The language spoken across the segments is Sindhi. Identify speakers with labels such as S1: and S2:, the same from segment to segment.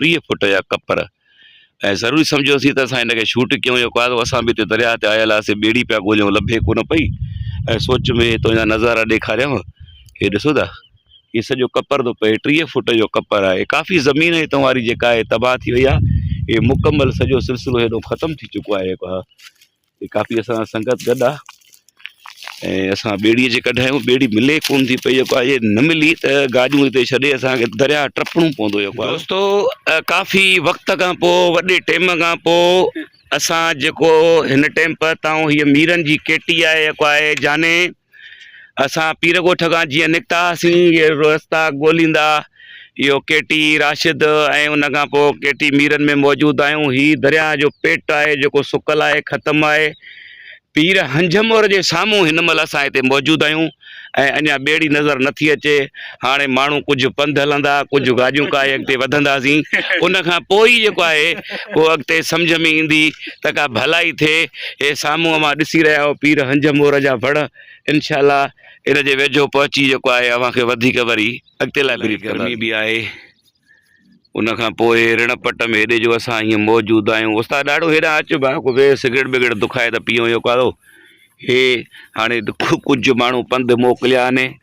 S1: ٽيهه فوٽ جا ڪپر ۽ ضروري سمجهيوسين ته اسان هن کي شوٽ ڪيون يا ڪا اسان به هتي درياهه تي آيل هئاسين ٻيڙي پيا ڳوليون لڀي ڪو نه پئي ۽ سوچ ۾ هي تنهنجا نظارا ڏيکاريانء هي ڏسو ٿا هي سڄو ڪپر ٿو پئي ٽيهه فوٽ جو ڪپر آهي ڪافي زمين هتان واري جيڪا آهي تباهه ٿي وئي آهي هي مڪمل سڄو سلسلو هيڏو ختم ٿي چڪو آهي ڪافي اسان سان سنگت گڏ آ ۽ اسان ٻيڙي جي ڪڍ آهيون ٻيڙي ملي ڪون ٿي پئي جيڪو آهي نه ملي ته گاڏيون هتي ڇڏي اسانکي درياء ٽپڻو پوندو جيڪو آهي دوستو ڪافي وقت کان پو وڏي ٽيم کان پو اسان جيڪو هن ٽيم پهتايون هي ميرن جي ڪيٽي آهي جيڪو آهي جاني اسان پير ڳوٺ کان جيئن نڪتا هئاسين، رستا ڳوليندا اهو ڪي ٽي راشد ۽ ان کان پوء ڪي ٽي ميرن ۾ موجود آهيون. هي درياهه جو پٽ آهي جيڪو سڪل آهي، ختم آهي. پير هنجهمور جي سامهون هن مهل اسان هتي موجود آهيون ۽ اڃا ٻيڙي نظر نٿي اچي. هاڻي ماڻهو ڪجهه پنڌ هلندا، ڪجهه گاڏيون ڪاهي اڳتي وڌنداسين، ان کان پوء ئي جيڪو آهي اهو اڳتي سمجهه ۾ ايندي ته ڪا ڀلائي ٿئي. هي سامهون اوهان ڏسي رهيا آهيو پير هنجهه مور جا وڻ، انشاء الله ان جي ويجهو پهچي جيڪو آهي اوهان کي وڌيڪ وري اڳتي لاء بريف ڪنداسين. گرمي به آهي ان کان پوء رڻ پٽ ۾ هيڏي جو اسان هيئن موجود آهيون. استاد ڏاڍو هيڏانهن اچ ڀاء ڪو ويهه سگريٽ بگريٽ دکائي ته پيئون يڪو آڌو. هي هاڻي ڪجهه ماڻهو پنڌ موڪليا آهن.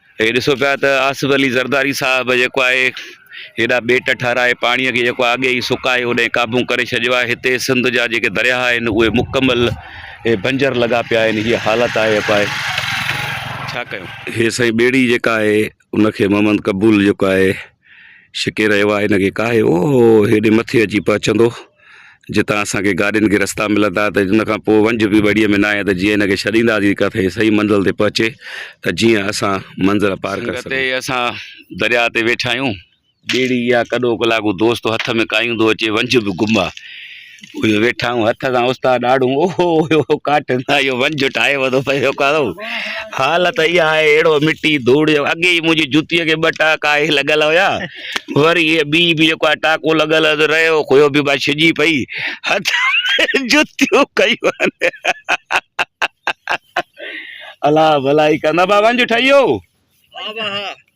S1: هي ڏسو پيا ته آصف علي زرداري صاحب جيڪو آهي هيڏا ٻيٽ ٺهرائي پاڻيء کي جيڪو آڳي ئي سڪائي اوڏانهن قابو ڪري ڇڏيو آهي. هتي سنڌ جا جيڪي درياهه آهن اهي مڪمل هي بنجر لڳا پيا آهن هيء حالت آهي جيڪو آهي ڇا ڪيون. هي سائين ٻيڙي جيڪا آهي ان کي محمد قبول جيڪو آهي. شڪي رهيو آهي هن کي ڪاهي اهو هيڏي مٿي اچي پهچندو جتان اسان کي گاڏين کي رستا ملندا ته ان کان پوء ونج به ٻڙيء ۾ ناهي ته جيئن هن کي ڇڏينداسين ڪٿي صحيح منزل تي پهچي ته جيئن اسان منزل پار ڪري سگهون. سنگت اسان درياء تي ويٺا آهيون. ٻيڙي يا ڪڏو ڪلاڪو دوست هٿ ۾ ڪاهيون ٿو اچي ونج به گم آهي. اهي ويٺائون هٿ سان استاد ڏاڙهون اوهو اوهو ڪاٺن سان اهو ونجهه ٺاهي وڌو پئي ٿو ڪارو حالت اها آهي اهڙو مٽي ڌوڙ جو اڳي ئي منهنجي جوتيء کي ٻه ٽاڪا اهي لڳل هيا وري اهي ٻي به جيڪو آهي ٽاڪو لڳل هيو رهيو اهو به بس ڇڄي پئي هٿ جوتيون ڪيون الا ڀلائي ڪندا با ونجهه ٺهي ويو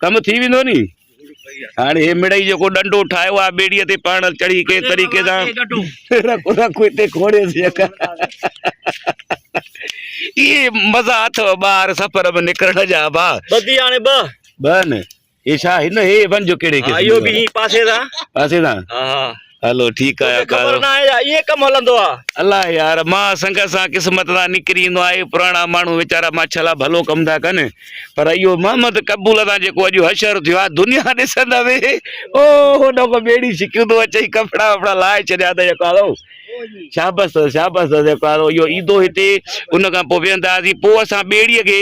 S1: ڪم ٿي ويندو ني هاڻي هي مڙئي جيڪو ڏنڊو ٺاهيو آ ٻيڙي تي پاڻ چڙهي ڪنهن طريقي سان رکو رکو هتي کوڙي سي اڪا اي مزا اٿو ٻار سفر ۾ نڪرڻ جا با بدي هاڻي ب بن هي ڇا هن هي ون جو ڪهڙي کي ايو به هي پاسي دا پاسي دا ها ها هلو ٺيڪ آهي توکي خبر ناهي يا ائين ڪم هلندو آ. الا يار مان سنگت سان قسمت سان نڪري ايندو آهي پراڻا ماڻهو ويچارا ماڇا لا ڀلو ڪم ٿا ڪن پر اهو محمد قبول سان جيڪو اڄ حشر ٿيو آهي دنيا ڏسندوي او هو نه ڪو ٻيڙي شڪيون ٿو اچي ڪپڙا وپڙا لائي ڇڏيا ته يڪا ٿو شابس شابس يڪا ٿو اهو ايندو هتي ان کان پوء ويهندا سي پوء اسان ٻيڙي کي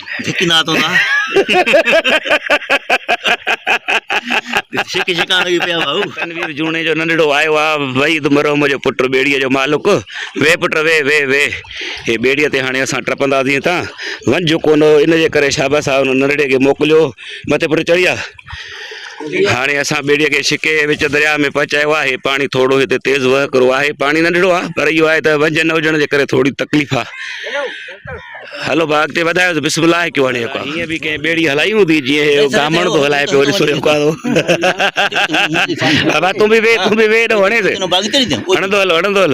S1: ڌڪي نات هوندا شڪ شڪان لڳي پيا ڀائو تنوير جوڻي جو ننڍڙو آيو آ وئي د مرحوم جو پٽ ٻيڙي جو مالڪ وي پٽ وي وي وي هي ٻيڙي تي هاڻي اسان ٽپنداسين تان ونجو ڪونه ان جي ڪري شاباس آ ان ننڍڙي کي موڪليو مٿي پٽ چڙهي آ هاڻي اسان ٻيڙيء کي شڪي ۽ وچ درياء ۾ پهچايو آهي. پاڻي ٿورڙو هتي تيز وهڪرو آهي. پاڻي ننڍڙو آهي پر اهو آهي ته وجهه نه هجڻ جي ڪري ٿورڙي تڪليف آهي. هلو ڀاء اڳتي وڌايوس بسم الله ڪيو هاڻي هڪ هيئن به ڪنهن ٻيڙي هلائي هوندي جيئن هيء گامڻ ٿو هلائي پيو ڏسو هيء ڪارو ڀاء تون به ويهه تون به ويهه هيڏانهون هڻيس هڻندو هل هڻندو هل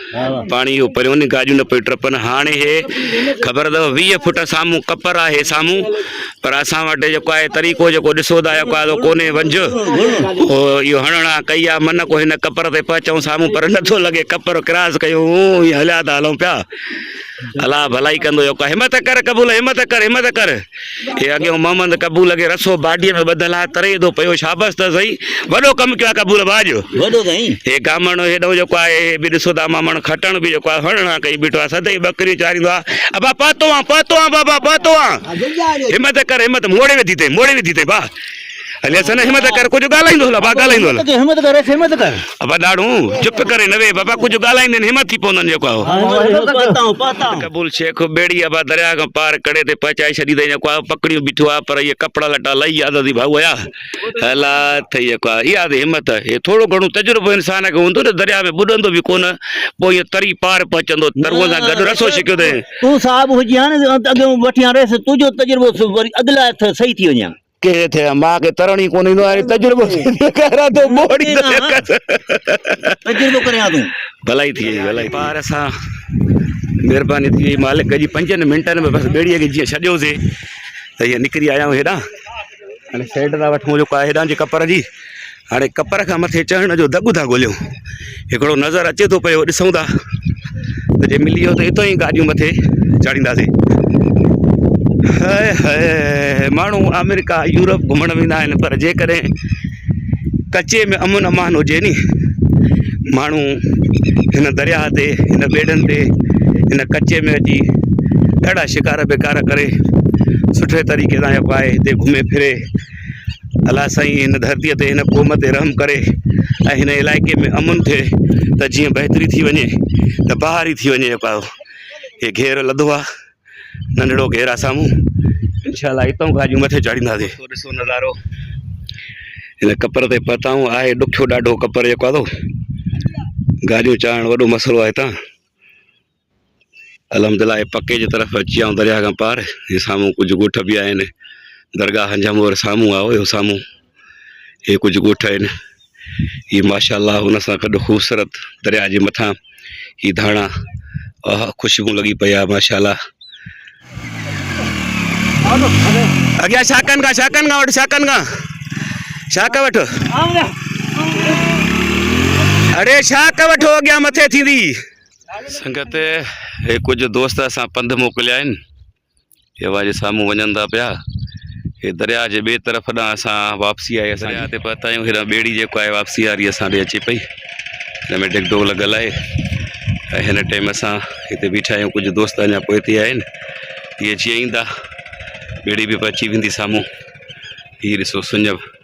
S1: پاڻي اهو پريون ني گاڏيون نه پيون ٽپن هاڻي هي خبر اٿو ويهه فوٽ سامهون ڪپر آهي سامهون پر اسان وٽ جيڪو آهي طريقو جيڪو ڏسو ٿا جيڪو آهي ڪوني ونج اهو هڻڻا ڪئي آ من ڪو هن ڪپر تي پهچون سامهون پر نٿو لڳي ڪپر ڪراس ڪيون هليا ٿا هلون پيا الا ڀلائي ڪندو جيڪو همت ڪر قبول همت ڪر همت ڪر هي اڳيون محمد قبول کي رسو باڊيء ۾ ٻڌل آهي، تري ادو پيو شابس ته سهي، وڏو ڪم ڪيو آهي قبول ڀاء جو. وڏو سائين. هي
S2: گامڻ هيڏئون
S1: جيڪو آهي، هي به ڏسو ته امامڻ کٽڻ به جيڪو آهي هڻڻ هان ڪئي بيٺو آهي، سدائين ٻڪريون چاريندو آهي، ابا پهتو آن، پهتو آن بابا، پهتو آن. همت ڪر همت، موڙي وڌي تئين، موڙي وڌي تئين ڀاء. علي حسن همت ڪر ڪجهه ڳالهائيندو هلا با ڳالهائيندو هلا همت ڪر همت ڪر
S2: ابا ڏاڙو
S1: چپ ڪري نه وي بابا ڪجهه ڳالهائيندين همت ٿي پوندن جيڪو آهو قبول شيخ ٻيڙي ابا درياء کان پار ڪڙي تي پهچائي ڇڏي اٿئي جيڪو آهو پڪڙيون بيٺو آهي پر هي ڪپڙا لٽا لهي ياد اٿئي ڀائو ايا هلا اٿئي جيڪو آهي اها اٿئي همت هي ٿورو گهڻو تجربو انسان کي هوندو ته درياء ۾ ٻڏندو به ڪونه پوء ائين تري پار پهچندو تروء سان گڏ رسو ڇڪيو اٿئي تون صاحب هجي ها
S2: نه اڳيون وٺي ها ريس تنهنجو تجربو وري اڳ لاء صحيح ٿي وڃي ها ڪير اٿئي ها ماء
S1: کي ترڻ ئي ڪونه ايندو آهي تجربو ٿيندو ڪيران ٿو ٻوڙي ٿو يڪس تجربو ڪري ها
S2: تون ڀلائي ٿي وئي ڀلائي
S1: پار سان مهرباني ٿي وئي مالڪ جي پنجن منٽن ۾ بس ٻيڙي کي جيئن ڇڏيوسي ته هي نڪري آيا آهيون هيڏانهن هاڻي سيٽ ٿا وٺون جو ڪا هيڏانهن جي ڪپر جي هاڻي ڪپر کان مٿي چڙهڻ جو دڳ ٿا ڳوليون هڪڙو نظر اچي ٿو پيو ڏسون ٿا ته جي ملي ويو ته اتو ئي گاڏيون مٿي چاڙهينداسين ماڻهو آمريڪا يورپ گهمڻ ويندا آهن پر جيڪڏهن ڪچي ۾ امن امان هجي ني ماڻهو هن درياهه تي هن ٻيڙن تي هن ڪچي ۾ اچي ڏاڍا شڪار بيڪار ڪري سٺي طريقي سان جيڪو آهي هتي گهمي ڦري الا سائين هن ڌرتي تي هن قوم تي رحم ڪري ۽ هن علائقي ۾ امن ٿئي ته جيئن بهتري ٿي وڃي ته بهار ئي ٿي وڃي پايو هي گهير لڌو آ ننڍڙو گهير آ سامهون انشاء الله هتون گاڏيون مٿي چاڙهينداسي ٿو ڏسو نظارو هن ڪپر تي پهتاون آهي ڏکيو ڏاڍو ڪپر جيڪو آ ٿو گاڏيون چاڙهڻ وڏو مسئلو آ هتان الحمدلله اهي پڪي جي طرف اچي ويا آهيون درياهه کان پار هي سامهون ڪجهه ڳوٺ به آهن درگاهه هنجهه مور سامهون آهو اهو سامهون هي ڪجهه ڳوٺ آهن هي ماشاءالله هن سان گڏ خوبصورت درياهه جي مٿان هي ڌاڻا اها خوشبو لڳي پئي آهي ماشاءالله اڳيان شاڪن کان شاڪن کان وٺ شاڪن کان شاڪ وٺ اڙي شاڪ وٺو اڳيان مٿي ٿيندي سنگت هي ڪجهه دوست اسان پنڌ موڪليا آهن هي اوهان جي سامهون وڃن ٿا پيا هي درياء جي ٻئي طرف ڏانهن اسان واپسي آهي اسان درياء تي پهتا آهيون هيڏانهن ٻيڙي جيڪو آهي واپسي واري اسان ڏي اچي پئي هن ۾ ڊگ ڊوگ لڳل آهي ۽ هن ٽائيم اسان هتي بيٺا آهيون ڪجهه دوست اڃا پوء تي آهن هي جيئن ايندا ٻيڙي به پچي ويندي سامهون هي ڏسو سڃ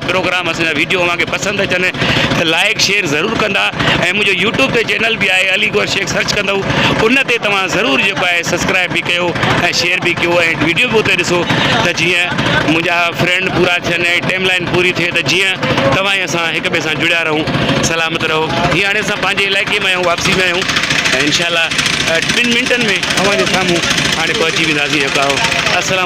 S1: پروگرام اسان جا ويڊيو اوهان کي پسند اچن ته لائيڪ شيئر ضرور ڪندا ۽ منهنجو يوٽيوب تي چينل به آهي علي گوهر شيخ سرچ ڪندو ان تي توهان ضرور جيڪو آهي سبسڪرائب به ڪيو ۽ شيئر به ڪيو ۽ ويڊيو به اتي ڏسو ته جيئن منهنجا فرينڊ پورا ٿين ۽ ٽيم لائين پوري ٿئي ته جيئن توهان ۽ اسان هڪ ٻئي سان جڙيا رهون سلامت رهو هي هاڻي اسان پنهنجي علائقي ۾ آهيون واپسي ۾ آهيون ۽ انشاء الله ٻن منٽن ۾ اوهان جي سامهون هاڻي پهچي وينداسين جيڪو السلام